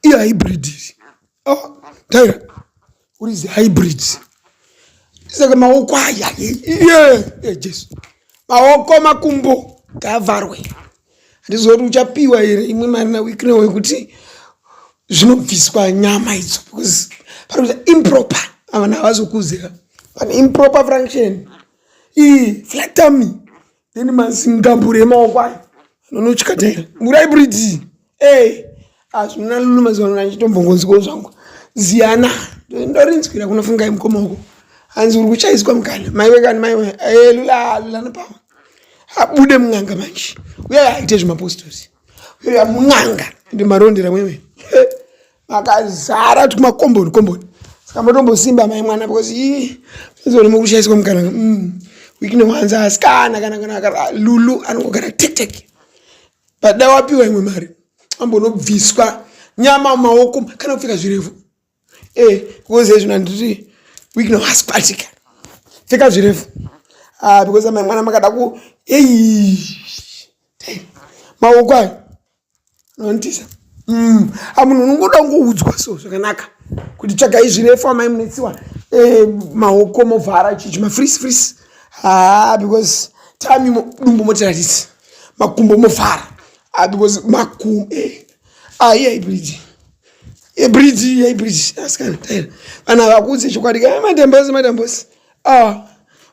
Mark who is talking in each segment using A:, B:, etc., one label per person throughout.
A: iyo hybrid oh, taira uri zihybrid saka maoko aya ye jesu maoko makumbo ngavharwe handizoti uchapiwa here imwe mari nawiknewo yekuti zvinobviswa nyama idzo because parikuita improper avana havazokuzira pane improper function ii flatami Then mazingambure emaoko ayo anonotyataira murai bridzi ey hazvina lulu mazuva ano ndanditombongonziko zvangu ziyana ndorinzwira kunofungai mukoma uko hanzi uri kuchaiswa mukana maiwe kani maiwe e lula lula nopawa abude mun'anga manje uye aite zvemapostori uye mun'anga ndi marondera mwewe makazara tuma komboni komboni saka matombosimba mai mwana because ii zvazoona mukushaiswa mukana mm. wikine wanza asikana kana kana kana lulu anongogara tek tek but dai wapiwa imwe mari ambonobviswa nyama maoko kana kupfeka zvirefu eh because ezvino handiti wikine wasikwatika pfeka zvirefu ah because mai mwana makada ku ei maoko ayo Nondisa. Mm. Amunhu unongoda kungoudzwa so zvakanaka kuti tsvagai zvirefu amai munetsiwa eh, maoko movhara chichi mafrisi frisi haa ah, because time dumbu motiratisi makumbo mofara ah, because makumbo eh. ah, iyai bridge ye bridge iyai bridge asikana ah, taira vanhu havakuudze chokwadi ka eh, madambosi madambosi ah,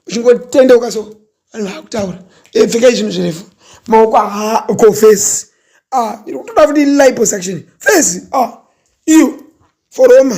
A: uchingotendeuka so vanhu vakutaura e pfekai zvinhu zvirefu maoko haa ko face ah iri kutoda futi liposuction face ah iyo foroma